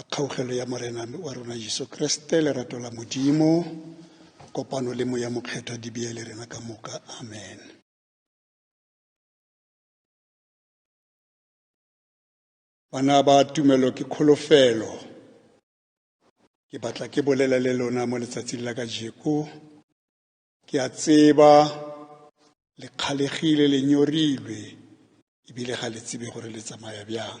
a kgaugelo ya morena wa rona jesu kreste lerato la modimo kopano le moya mokgethwa di beye le rena ka moka amen bana ba tumelo ke kholofelo ke batla ke bolela le lona mo letsatsing la ka jeko ke a tseba le kgalegile le nyorilwe ebile ga le tsebe gore le tsamaya bjang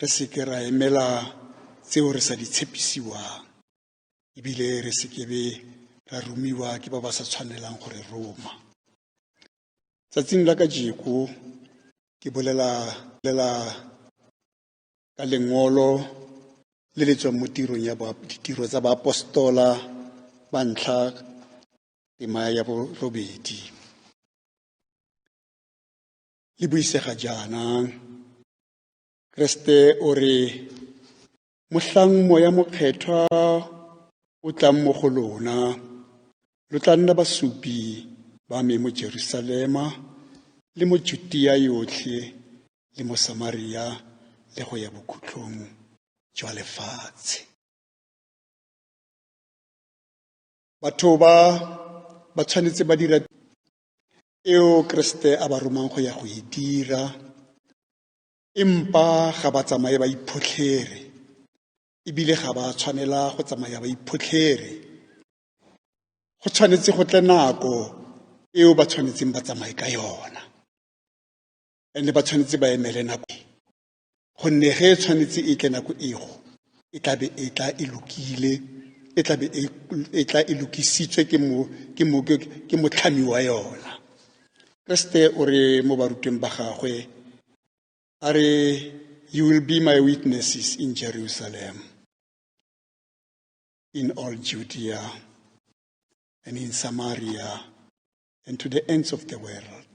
re seke ra emela tseo re sa di tshepisiwang ebile re sekebe ra romiwa ke ba ba sa tshwanelang gore roma tsatsing la ka jeko ke bolela lela ka lengolo le le tswang mo tirong ya ditiro tsa baapostola ba ntlha tema ya borobedi le buisega jaanang Kriste o re, Mohlang moya mokgethwa o tlang mo go lona, lo tla nna basupi ba me mo Jerusalema le mo Judia yotlhe le mo Samaria le go ya bokhutlong jwa lefatshe. Batho ba ba tshwanetse ba dira eo Kriste a ba romang go ya go e dira empa ga ba tsamaye ba iphotlhere ebile ga ba tshwanela go tsamaya ba iphotlhere go tshwanetse go tle nako eo ba tshwanetseng ba tsamaye ka yona ene ba tshwanetse ba emele nako gonne ge e tshwanetse e tle nako ego e tlabe e tla e lokile e tlabe e, e tla e lokisitswe ke mo ke mo ke motlhami wa yona kriste o re mo barutweng ba gagwe a re you will be my witnesses in jerusalem in all judea and in samaria and to the ends of the world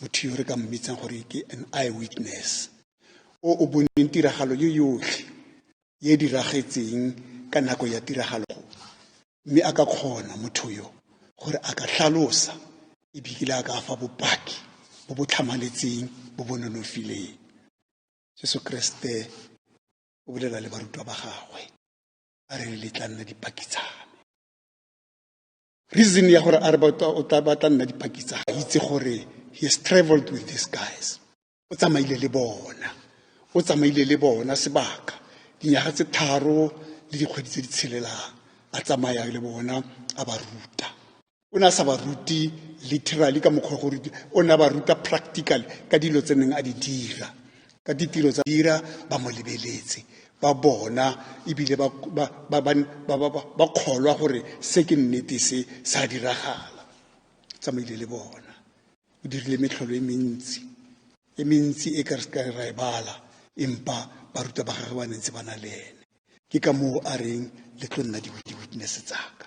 motho yo re ka mmitsang gore ke an eyewitness o o boneng tiragalo yo yotlhe ye e diragetseng ka nako ya tiragalo mme a ka kgona motho yo gore a ka tlhalosa ebile a ka fa bopaki bo bo tlhamaletseng bo bo nonofileng jesu kreste o bolela le barutwa ba gagwe a re le tla nna dipaki tsame reason ya gore a re o tla batla nna dipaki tsa ga itse gore he has traveled with these guys o tsamaile le bona o tsamaile le bona sebaka dinyaga tse tharo le dikgwedi tse di tshelelang a tsamaya le bona a ba ruta o ne a sa ba rute literally ka mokgwa gore o ne a ba ruta practical ka dilo tse neng a di dira ka ditiro tsa dira ba mo lebeletse ba bona ebile ba ba- ba- ba- ba- ba- ba- ba kgolwa gore se ke nnete se sa diragala tsamaile le bona o dirile metlholo e mentsi e mentsi e ka re ka ra e bala empa baruta ba gagwe ba ne ntse ba na le ene ke ka moo a reng le tlo nna di-witness tsaka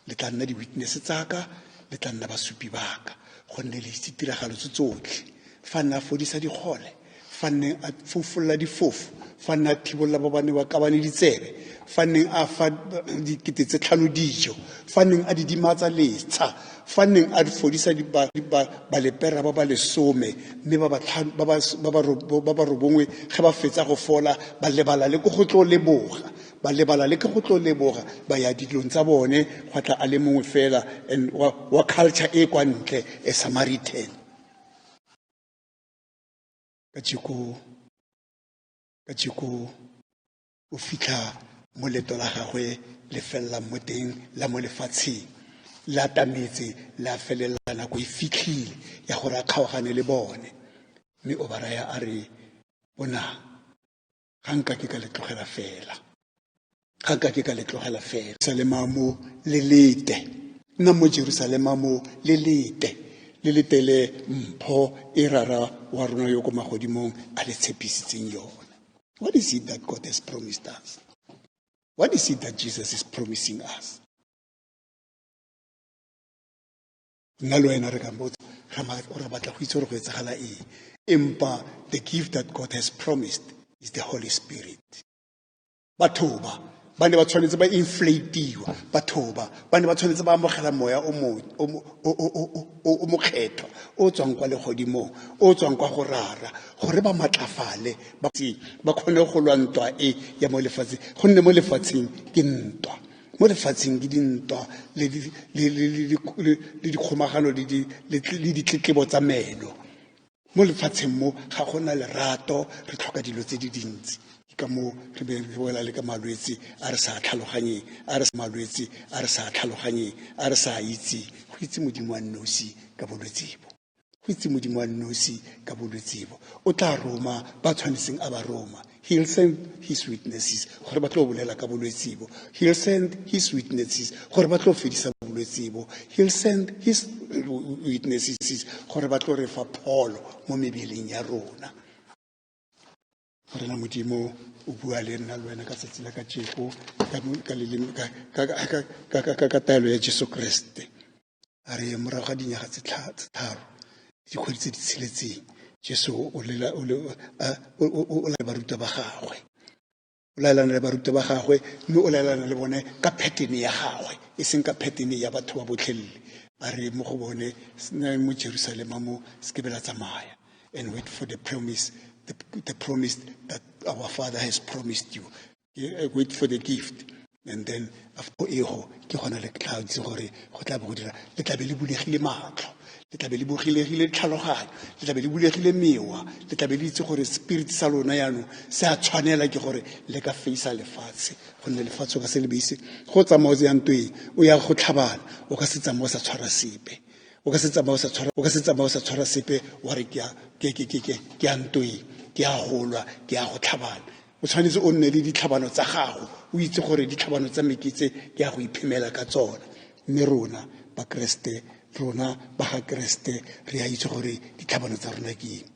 le tla nna di-witness tsaka le tla nna basupi baka gonne le itse tiragalo tse tsotlhe fa nne a fodisa dikgole fa nne a fofolola difofo fa nne a thibolola ba bane ba kabane ditsebe fa nneng a fa dikete tse tlhano dijo fa nneng a didimatsa letsha fa nneng a fodisa balepera ba ba lesome mme ba ba robongwe ge ba fetsa go fola ba lebala le ko go tlo leboga ba lebala le ke go tlo leboga ba ya dilong tsa bone gwa tla a le mongwe fela and wa, wa culture e kwa ntle a samaritan ka jeko ka jeko o fitlha mo leto la gagwe le felelang mo teng la mo lefatsheng le atametse le a felelela nako e fitlhile ya gore a kgaogane le bone mme o ba raya a re bonang ga nka ke ka le tlogela fela ga ka ke ka le tlogela fela jerusalema mo le lete nna mo jerusalema mo le lete le letele mpho e rara wa rona yo ko magodimong a le tshepisitseng yone what is it that god has promised us what is it that jesus is promising us nna le wena re ka botsa ra batla go itse gore go etsagala eng empa the gift that god has promised is the holy spirit batho ba ba ne ba tshwanetse ba inflatiwa batho ba ba ne ba tshwanetse ba amogela moya o mokgethwa o tswang kwa legodimong o tswang kwa go rara gore ba matlafale ba kgone go lwa ntwa e ya mo lefatsheng gonne mo lefatsheng ke ntwa mo lefatsheng ke dintwa le dikgomagano le ditletlebo tsa meno mo lefatsheng mo ga gona lerato re tlhoka dilo tse di dintsi ka moo re be re boela le ka malwetse a re sa tlhaloganyeng a re malwetse a re sa tlhaloganyeng a re sa itse go itse modimo wa nnosi ka bolwetse bo go itse modimo wa nosi ka bolwetse bo o tla roma ba tshwanetseng a ba roma he'll send his witnesses gore ba tlo bolela ka bolwetse bo he'll send his witnesses gore ba tlo fedisa bolwetse bo he'll send his witnesses gore ba tlo re fa pholo mo mebeleng ya rona morena modimo o bua le nna le wena ka tsatsi la ka jeko ka taelo ya jesu kreste a re morago ga dinyaga tse tharo dikgwedi tse di tsheletseng jesu o laela baruta ba gagwe o laelana le baruta ba gagwe mme o laelana le bone ka pattern ya gagwe e seng ka pattern ya batho ba botlhelele a re mo go bone se na mo jerusalema mo se ke be la tsamaya and wait for the promise, the, the promise that our Father has promised you. Eh, wait for the gift. And then after ego ke gona le tla itse gore go tla be go dira le tla be le bulegile matlho le tla be le bulegile tlhaloganyo le tla be le bulegile mewa le tla be le itse gore spirit sa lona yaanong se a tshwanela ke gore le ka faisa lefatshe gonne lefatshe o ka se le beise go tsamao tse yang tweng o ya go tlhabana o ka se tsamao sa tshwara sepe o ka se tsamaye o sa tshwara sepe wa re ke a ntoe ke a golwa ke a go tlhabana o tshwanetse o nne le ditlhabano tsa gago o itse gore ditlhabano tsa meketse ke a go iphemela ka tsona mme rona bakeresete rona ba ga keresete re a itse gore ditlhabano tsa rona ke eng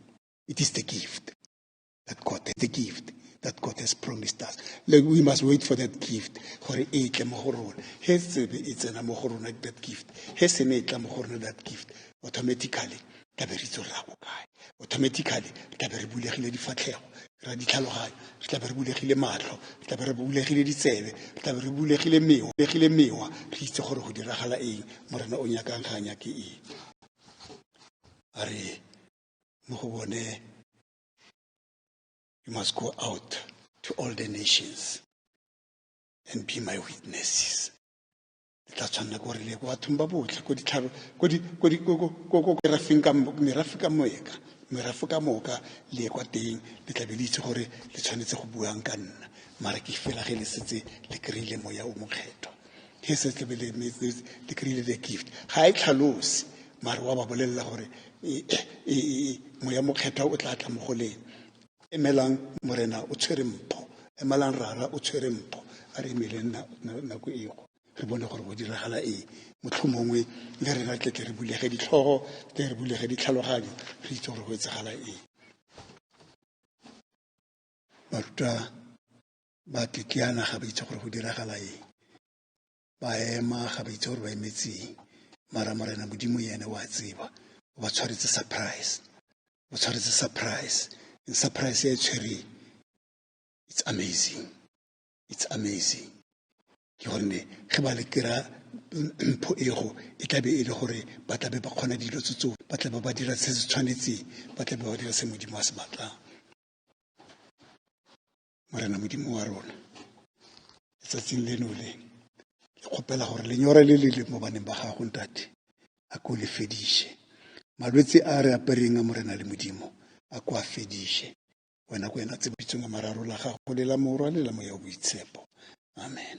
it is the gift that God, the gift that God has promised us. Like we must wait for that gift. Gore e tle mo go rona. He tsebe e tsena mo go rona that gift. He se ne e tla mo go rona that gift. Automatically, tla be re itse ra go kae. Automatically, tla be re bulegile difatlhego. Ra ditlhaloganyo. Re tla be re bulegile matlho. Re tla be re bulegile ditsebe. Re tla be re bulegile mewa. Bulegile mewa. Re itse gore go diragala eng. Morena o nyakang ga nyake eng. A re mo go bone You must go out to all the nations and be my witnesses. le tla tshwanela ko re le ko bathong ba botlhe ko ditlhabo ko di ko di ko ko ko merafeng ka merafe ka moeka merafo ka moka le kwa teng le tla be le itse gore le tshwanetse go buang ka nna mara ke fela ge le setse le kry-ile moya o mokgethwa he se tle bele me le kry the gift ga e tlhalose mare wa ba bolelela gore e, e, e, moya mokgethwa o tla tla mo go leng emelang morena o tshwere mpho emelang rara o tshwere mpho a re emeleng nako ego re bone gore go diragala eng motlho mongwe le rena tle tle re bulege ditlhogo tle re bulege ditlhaloganyo re itse gore go etsagala eng baruta ba kekeana ga ba itse gore go diragala eng ba ema ga ba itse gore ba emetseng mara morena modimo ene wa tseba o ba tshwaretse surprise o tshwaretse surprise and surprise e tshwereng it's amazing it's amazing ke gonne ge ba le kry-a mpho ego e tlabe e le gore ba tlabe ba kgona dilo tse tseo ba tlabe ba dira se se tshwanetseng ba tlabe ba dira se modimo a se batlang morena modimo wa rona letsatsing leno le ke kgopela gore lenyora le le le mo baneng ba gago ntate a ko le fediše malwetse a re apereng a morena le modimo a ko a fediše wena ko ena tsebolitsweng a mararo la gago le la morwa le la moya o boitshepo amen